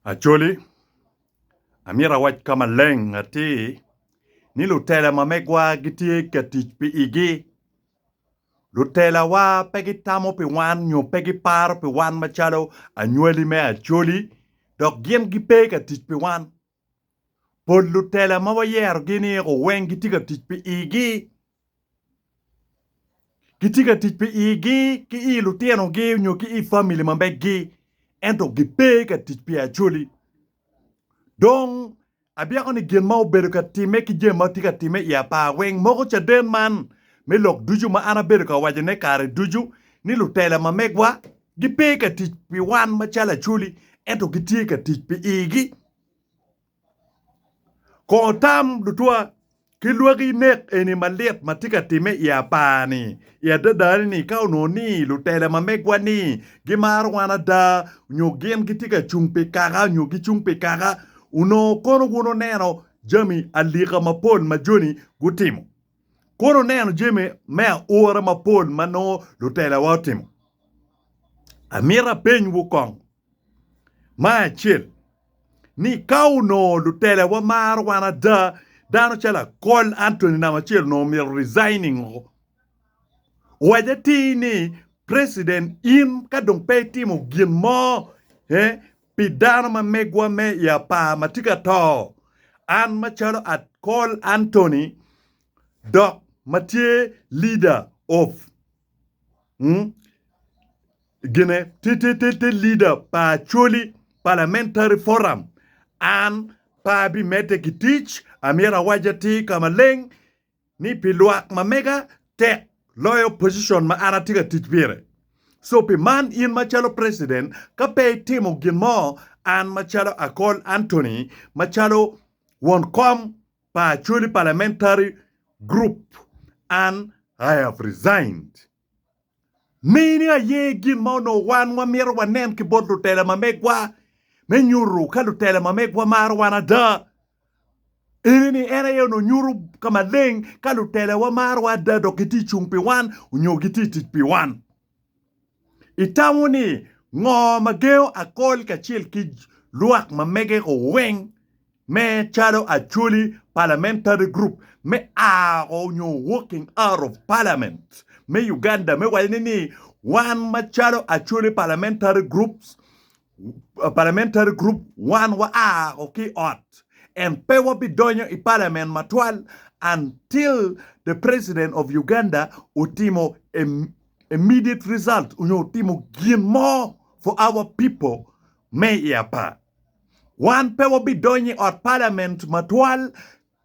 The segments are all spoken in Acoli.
Acholi, Amyero awac ka maleng atir ni lutela ma megwa gitye ka tic pi igi. Lutelawa pe gitamo pi wan nyo pe giparo pi wan macalo anywali me Acholi dok gin gipe ka tic pi wan. Pol lutela ma wayerogi ni eko weng gitye ka tic pi igi. Gitye ka tic pi igi ki i lutinogi nyo ki i famili ma meggi ento gipe ka tic pi Acholi. Dong abyeko ni gin ma obedo ka timme ki jami ma tye ka timme i apar weng moko caden man me lok ducu ma an abedo ka wacone kare ducu ni lutela ma megwa Gipe ka tic pi wan macalo Acholi, ento gitye ka tic pi igi. Kor tam lutwa ki lwaki nek eni malit ma tye ka timme i apar-ni. I adadani-ni, ka onongo ni lutela ma megwa-ni gimaro wan ada nyo gin gitye ka cung pi kaka nyo gicung pi kaka, onongo kono wun oneno jami alika mapol ma joni gutimo. Kore oneno jami me aura mapol ma nongo lutelawa otimo. Amito apenywu kong ma acel ni ka onongo lutelawa maro wan ada, dano calo Akol Anthony namba acel onongo omito resigning o. Owacce atir ni President in ka dong pe itimo gin mo, eh, Pi dano ma megwa me i apar ma tye ka to, an macalo Col Anthony dok ma tye Leader of the Leader pa Acholi Parliamentary Forum, an pe abimedde ki tic, amyero awac atir ka maleng ni pi lwak ma mega tek loyo pocicon ma an atye ka tic pire. So pi man in macalo preciden ka pe itimo gin mo an macalo Akol Anthony macalo won kom pa Acholi Parliamentary Group an I have resigned. Mini aye gin ma onongo wan wamito wanen ki bot lutela ma megwa me nyuto ka lutela ma megwa maro wan ada. Ene ni en aye onongo nyuto ka maleng ka lutelawa marowa ada dok gitye cung pi wan onyo gitye tic pi wan. Itamo ni ngo ma gengo akol kacel ki lwak ma mege-gu weng Me calo Acholi, Parliamentary Group me Ago nyo Walking Out of Parliament me Uganda me waco ni ni wan macalo Acholi Parliamentary Group, Parliamentary Group wan wa ago ki ot and pe wabidonyo i Parliament matwal until the President of Uganda otimo a immediate result onyo otimo gin mo for our people me i apar. Wan pe wabidonyo i ot palament matwal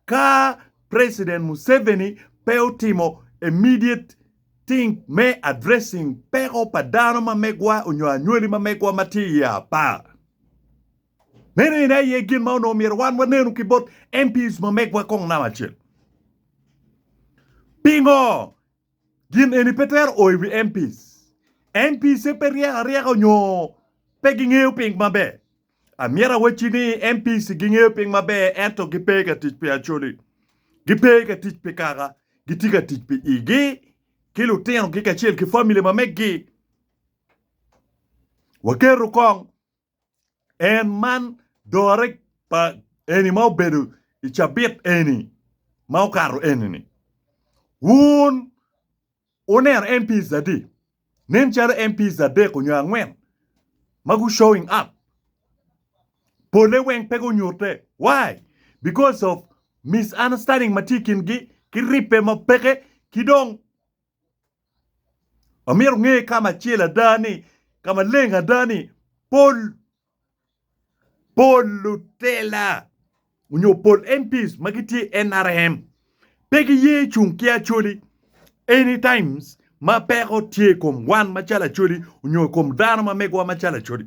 ka President Museveni pe otimo immediate thing me addressing peko pa dano ma megwa onyo anywali ma megwa ma tye i apar. Meno ene aye gin ma onongo myero wan wanenu ki bot MPs ma megwa kong namba acel. Pingo? Gin eni pe twero o i wi MPs. MPs pe ryeko aryeka nyo pe gingeyo piny maber. Amyero awacci ni MPs gingeyo piny maber ento gipe ka tic pi Acholi. Gipe ka tic pi kaka, gitye ka tic pi igi ki lutinogi kacel ki famili ma meggi. Waketo kong en man dore pa eni ma obedo i cabit eni ma okato eni-ni. Wun wuneno MPs adi? Nen calo MPs adek onyo angwen ma gu showing up. Pole weng pe gunyute. Why? Because of misunderstanding ma tye i kin gi ki ribbe ma peke ki dong Amito nge ka macel ada ni, ka maleng ada ni, pol pol lutela onyo pol MPs ma gitye i NRM pe giye cung ki Acholi any times ma peko tye i kom wan macalo Acholi onyo i kom dano ma megowa macalo Acholi.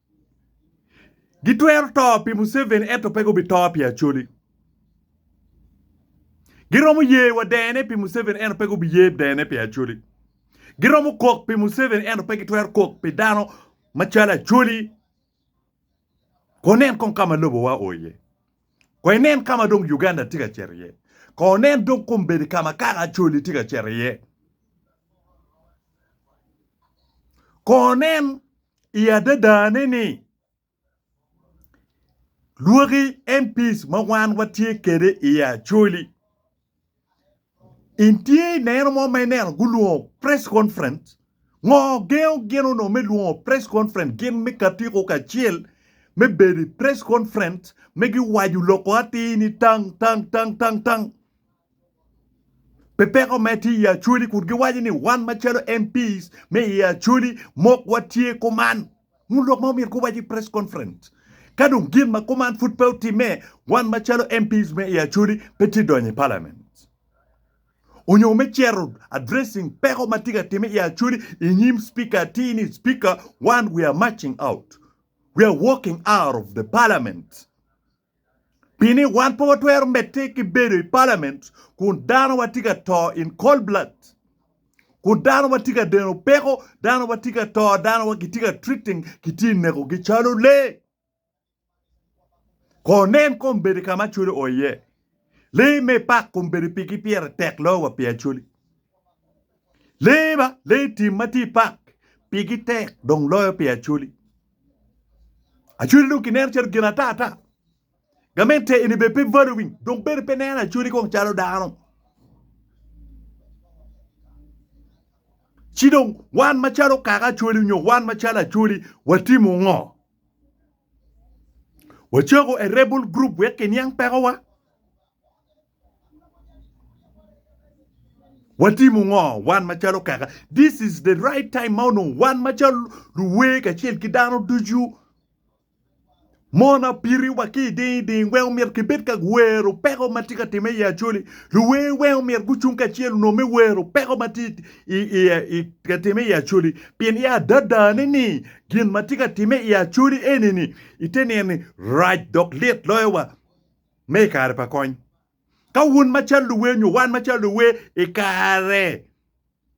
Gitwero to pi Museveni ento pe gubito pi Acholi. Giromo ye wa dene pi Museveni ento pe gubiye dene pi Acholi. Giromo kok pi Museveni ento pe gitwero kok pi dano macalo Acholi. Ko nen kong ka ma lobowa oo iye. Ko inen ka ma dong Uganda tye ka cito iye. Ko nen dong kombeddi ka ma kaka Acholi tye ka cito iye. Ko nen I adadane ni, lwaki MPs ma wan watye kwede i Acholi, in tye i neno mo ma ineno gulwongo press conference? Ngo gengo gin onongo me lwongo press conference gin me katiko kacel me bedo i press conference me giwaco loko atir ni tang tang tang tang tang? Pi peko me tye i Acholi kun giwaco ni wan macalo MPs me i Acholi mok watye kuman. Ngut lok ma omyero guwac i press conference. Ka dong gin ma kuman pud pe otimme, wan macalo MPs me i Acholi pe tye donyo i Parliament onyo me cito addressing peko ma tye ka timme i Acholi i nyim Speaker atir ni Speaker wan we are marching out, we are walking out of the Parliament. Pi ni wan pe watwero medde ki bedo i palament kun dano watye ka to in cold blood, kun dano watye ka deno peko, dano watye ka to, dano wa kitye ka treating, kitye i neko gi calo lee. Ko nen kombeddi ka ma cwodi oo iye. Lee me pak kom bedo pigi pire tek loyo wa pi Acholi. Lee ba, lee tim ma tye i pak pigi tek dong loyo pi Acholi. Acholi dong kineno calo gin ata ata. Gamente eni bene pe valuing, dong bene pe neno Acholi kong calo dano. Ci dong wan macalo kaka Acholi nyo wan macalo Acholi watimo ngo? Wacoko a rebel group wek kiniang pekowa? Watimo ngo wan macalo kaka? This is the right time ma onongo wan macalo luwer kacel ki dano ducu mon apiti wa ki iding ding weng omyero kibed ka wero peko matye ka time i Acholi. Luwer weng omyero gucung kacel onongo me wero peko matye i ka timme i Acholi, pien i adadane ni gin ma tye ka timme i Acholi eni-ni ite nino ni rac dok lit loyo wa me i kare pa kony. Ka wun macalo luwer nyo wan macalo luwer i kare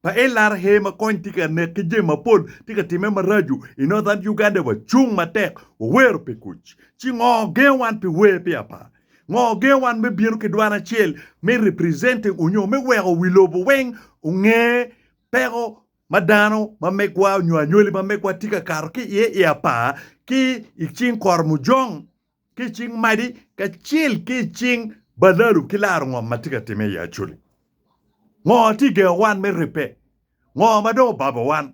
pa LRA ma kony tye ka nek ki jami mapol tye ka timme maraco i Northern Uganda wacung matek wawero pi kuc, ci ngo gengo wan pi wer pi apar? Ngo gengo wan me bino ki dwan acel me representing onyo me weko wi lobo weng onge peko ma dano ma megwa onyo anywali ma megwa tye ka kato ki iye i apar ki i cing kor mujong ki i cing madi kacel ki i cing balalu ki laro ngom ma tye ka time i Acholi? Ngo tye gengo wan me ribbe? Ngo ma dong obabo wan?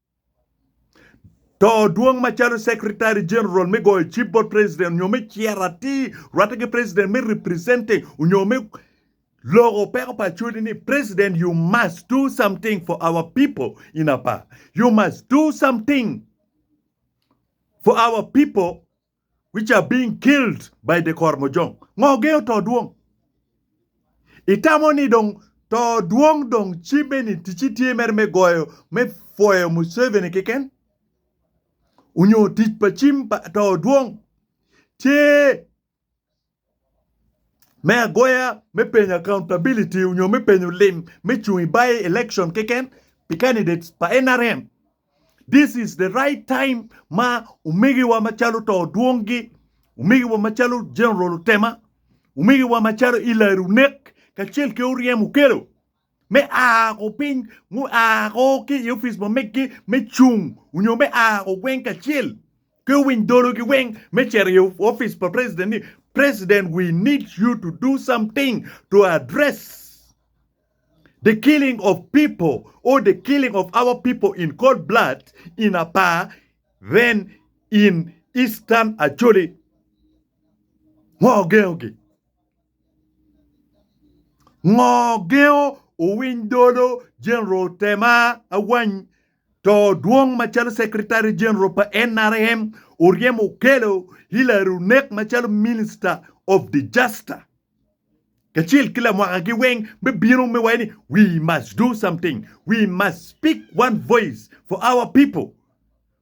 To dwong macalo Secretary General me goyo cip bot President nyo me ciro atir rwatte ki President me representing nyo me loko peko pa acholi ni President you must do something for our people in Apaa. You must do something for our people. which are being killed by the Kormojong ngo gengo to dwong? Itamo ni dong to dwong dong cibbe ni ticci tye mere me goyo me foyo Museveni keken? Onyo tic pa cim pa to dwong tye me agoya, me penyo accountability onyo me penyo lim me cung i by election keken pi candidates pa nrm. This is the right time ma omegiwa macalo to Odwongi, omegiwa macalo General Otema, omegiwa macalo Ilari Onek kacel ki Oryem Okello me a ko piny mua ko ki i opic mo megi me cung nyo me a ko gweng kacel ki owiny dolo gi weng me cito i opic pa president ni president we need you to do something to address the killing of people or the killing of our people in cold blood in Apaa then in Eastern Acholi. Ngo gengo gi? Ngo gengo owiny dolo General Tema Awany to dwong macalo Secretary General pa NRM oryem okelo Hillary Onek macalo Minister of Disaster kacel ki lamwaka gi weng me bino me waco ni we must do something we must speak one voice for our people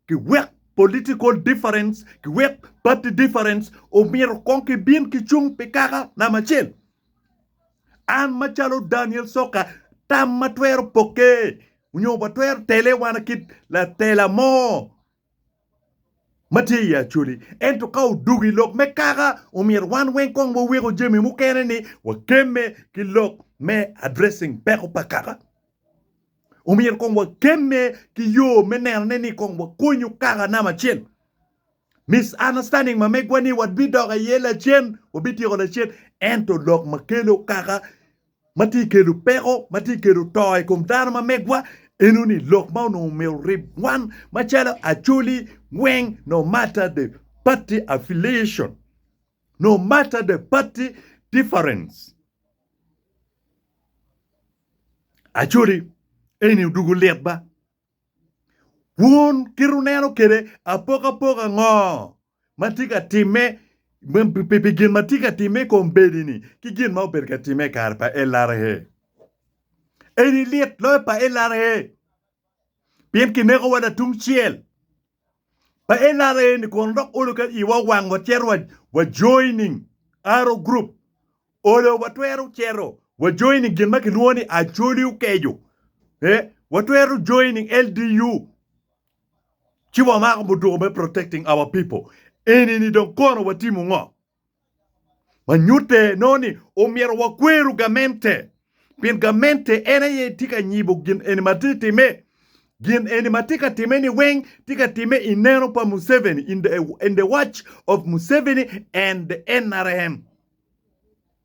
Ki wek political difference ki wek party difference omito kong ki bin ki cung pi kaka namba acel. An ma calo Daniel Soka tam ma twero poke onyo wa twero tele wana kit latela mo ma tye i Acholi ento ka odugo i lok me kaka omyero wan weng kong wa weko jami mukene ni wa kemme ki lok me addressing peko pa kaka. Omyero kong wakemme ki yo me nenone ni kong wakonyo kaka namba acel. Misunderstanding ma megwa ni wabidok aye lacen, wabityeko lacen, ento lok ma kelo kaka ma tye kelo peko, ma tye kelo to i kom dano ma megwa, eno ni lok ma onongo myero orib wan macalo Acholi weng no matter the party affiliation, no matter the party difference. Acodi eni odugo lit ba. Wun kit uneno kede apoko apoka ngo ma tye ka timme pi gin ma tye ka timme i kom bedi ni ki gin ma obedo ka timme i kare pa LRA? Eni lit loyo pa LRA pien kinekowa latungcel. pa NRA ni kono dok olo ka iwa owango cito wa joining Arrow Group. Olo watwero cito wa joining gin ma kilwongo ni Acholi Okejo. Eh, watwero joining LDU ci wamako muduku me protecting our people. Eni ni dong kono watimo ngo? ma nyutte nongo ni omyero wakweru gamente pien gamente en aye tye ka nyibo gin eni ma tye timme. Gin eni ma tye ka timme ni weng tye ka timme i neno pa Museveni, in the watch of Museveni and the NRM.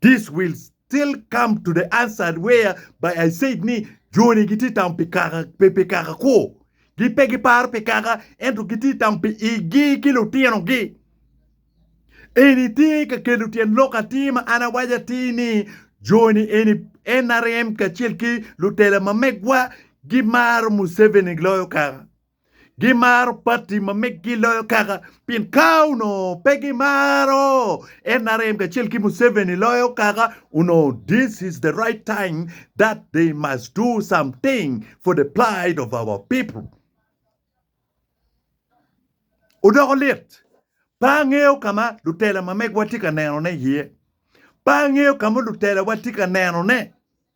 This will still come to the answered where by I said ni joni giti tamo pi kaka pi, pi kaka kwo. Gi pe giparo pi kaka ento giti tamo pi igi ki lutinogi. Eni tye ka kelo tyen lok atir ma an awaco atir ni joni eni NRM kacel ki lutela ma megwa gimaro Museveni loyo kaka. Gimaro pati ma meggi loyo kaka pien ka onongo pe gimaro NRM kacel ki Museveni loyo kaka onongo this is the right time that they must do something for the plight of our people. Odoko lit. Pe angeyo ka ma lutela ma megwa tye ka nenone iye. Pe angeyo ka ma lutelawa tye ka nenone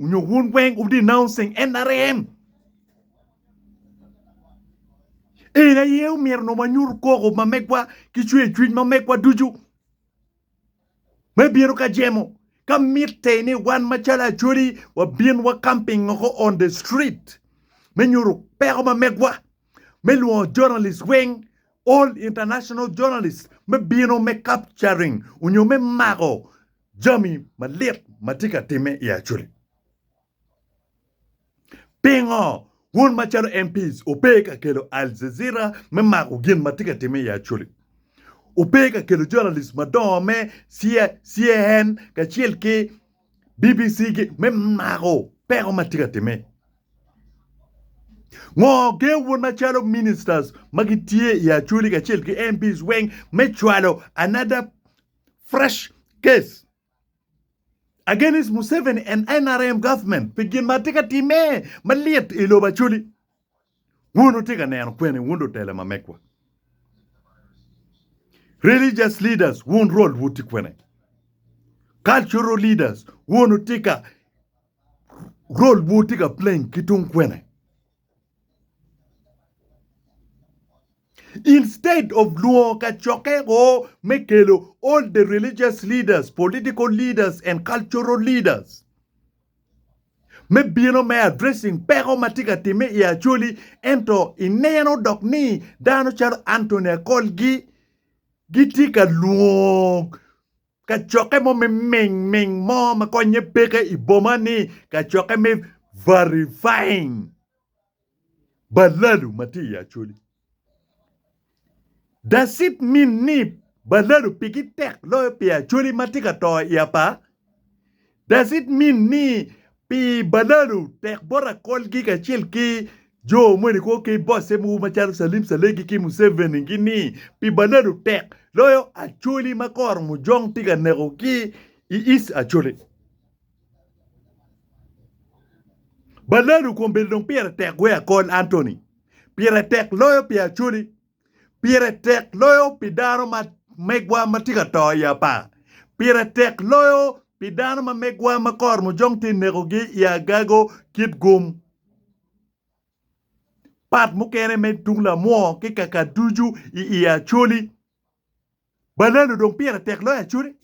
Onyo wun weng wu denouncing NRM? En aye omyero nongo wanyut koko ma megwa ki cwer cwiny ma megwa ducu me bino ka jemo ka mitte ni wan macalo Acholi wabin wa camping oko on the street me nyuto peko ma megwa me lwongo journalist weng all international journalist me bino me capturing onyo me mako jami malit ma tye ka timme i Acholi. Pingo wun macalo MPs wupe ka kelo Al Jazeera me mako gin ma tye ka timme i Acholi? Wupe ka kelo journalist madongo me CAN kacel ki BBC me mako peko ma tye ka timme? Ngo gen wun macalo ministers ma gitye i Acholi kacel ki MPs weng me cwalo another fresh case against Museveni and NRM government pi gin ma tye ka timme malit i lobo Acholi. Wun wutye ka neno kwene wun lutela ma megwa? Religious leaders wun rol wu tye kwene? Cultural leaders wun wutye ka rol wu tye ka playing ki tung kwene? Instead of lwongo kacokke go me kelo all the religious leaders, political leaders and cultural leaders me bino me addressing peko ma tye ka timme i Acholi ento ineno dok ni dano calo Anthony Akolgi gitye ka lwongo Kacokke mo me ming ming mo ma konye peke i boma ni kacokke me verifying balalu ma tye i Acholi. Does it mean ni balalu pigi tek loyo pi Acholi ma tye ka to i apar? Does it mean ni pi balanu tek bot akolgi kacel ki jo moni kwo ki bosse mogo macalo Salim Salegi ki Museveni gi ni pi balanu tek loyo Acholi ma koro Mujong tye ka neko ki i East Acholi? Balanu kombeddi dong pire tek wee akol Anthony pire tek loyo pi Acholi. Pire tek loyo pi dano ma megwa ma tye ka to i apar. Pire tek loyo pi dano ma megwa ma kor mujong tye nekogi i agago kit gum. Pat mukene me tung lamwor ki kaka ducu i i Acholi. Banana odong pire tek loyo acute.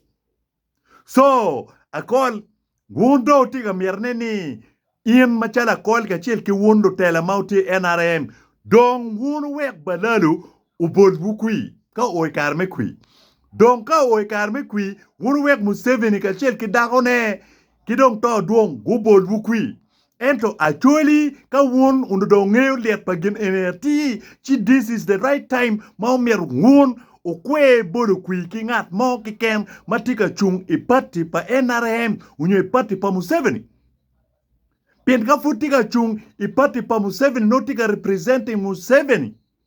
So akol wun dong wutye ka mitine ni in macalo akol kacel ki wun lutela ma wutye i nrm dong wun wuwek Balalo obolwu kwir ka oo i kare me kwir. Dong ka oo i kare me kwir wun wuwek Museveni kacel ki dakone ki dong Too Dwong gubolwu kwir. Ento actually ka wun onongo dong wungeyo lyet pa gin eni atir, ci this is the right time ma omyero wun wukwer bodo kwir ki ngat mo keken ma tye ka cung i party pa nrm onyo i party pa Museveni. Pien ka pud tye ka cung i party pa Museveni nongo tye ka representing Museveni.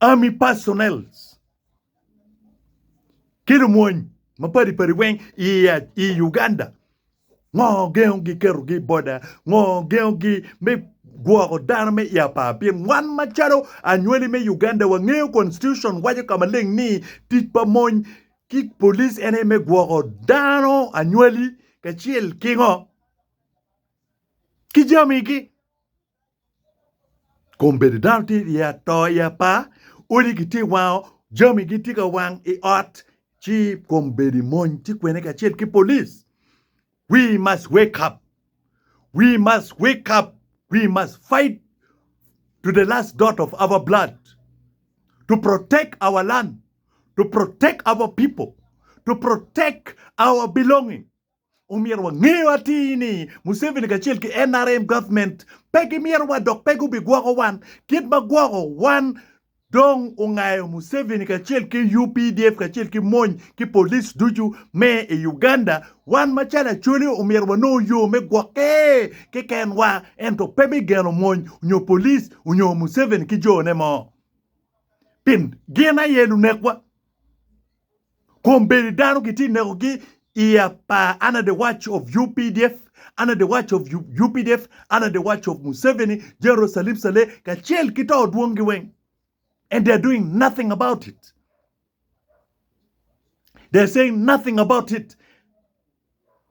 Army personnel ki lumony mapadi padi weng i Uganda ngo gengo gi keto gi boda ngo gengo gi me gwoko dano me i apar pien wan macalo anywali me Uganda wa ngeyo constitution waco ka maleng ni tic pa mony ki police en aye me gwoko dano anywali kacel ki ngo ki jami gi Kom bedo dano tye i ato i apa, odi gitye i wango, jami gitye ka wang i ot ci kom bedo i mony ci kwene kacel ki polic we must wake up, we must wake up, we must fight to the last dot of our blood to protect our land, to protect our people, to protect our belonging. Omyero wangeyo atir ni Museveni kacel ki nrm government pe gimyero wa dok pe gubigwoko wan kit ma gwoko wan dong ongayo Museveni kacel ki updf kacel ki mony ki police ducu me i Uganda wan macalo Acholi omyero wanongo yo me gwoke keken wa ento pe me geno mony nyo police nyo Museveni ki jo ne mo pin gin aye lunekwa. Kom bene dano gitye ka nekogi i apar under the watch of updf, under the watch of updf, under the watch of Museveni, General Salim Saleh kacel ki to dwongi weng and they are doing nothing about it. They are saying nothing about it.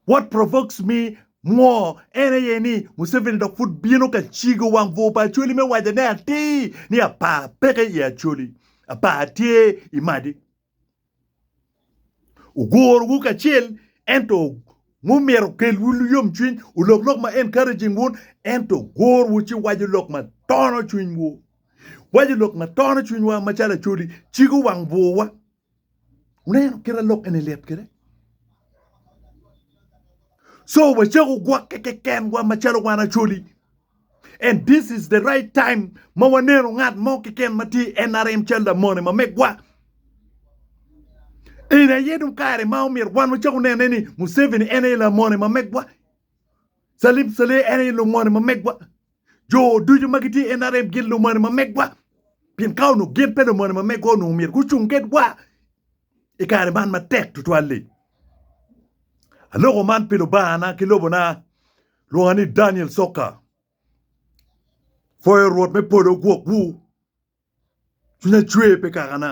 What provokes me more en aye ni Museveni dok pud bino ka cigo wang bur pa Acholi me waco ne atir ni apar peke i Acholi, apar tye i madi. Ogorowu kacel, ento ngo myero kelwu luyom cwiny? Olok lok ma encouraging wun, ento gorowu ci waco lok ma tono cwinywu. Waco lok ma tono cwinywa macalo acodi, cigo wang bwurwa. Wuneno kite lok eni lit kede? So wacako gwokke kekenwa macalo wan acodi And this is the right time ma waneno ngat mo keken ma tye i NRM cal lamone ma megwa. Eni aye dong kare ma omyero wan wacak onene ni Museveni en aye lamone ma megwa. Salim Saleh en aye lumone ma megwa. Jo ducu ma gitye i NRM gin lumone ma megwa. Pien ka onongo gin pe lumone ma megwa onongo myero gucung kedwa. i kare man matek tutwal-li. Aloko man pi lubangana ki lobona, lwonga ni Daniel Soka. Pwoyo Rwot me polo ogwokwu, cwinya cwer pe kakana.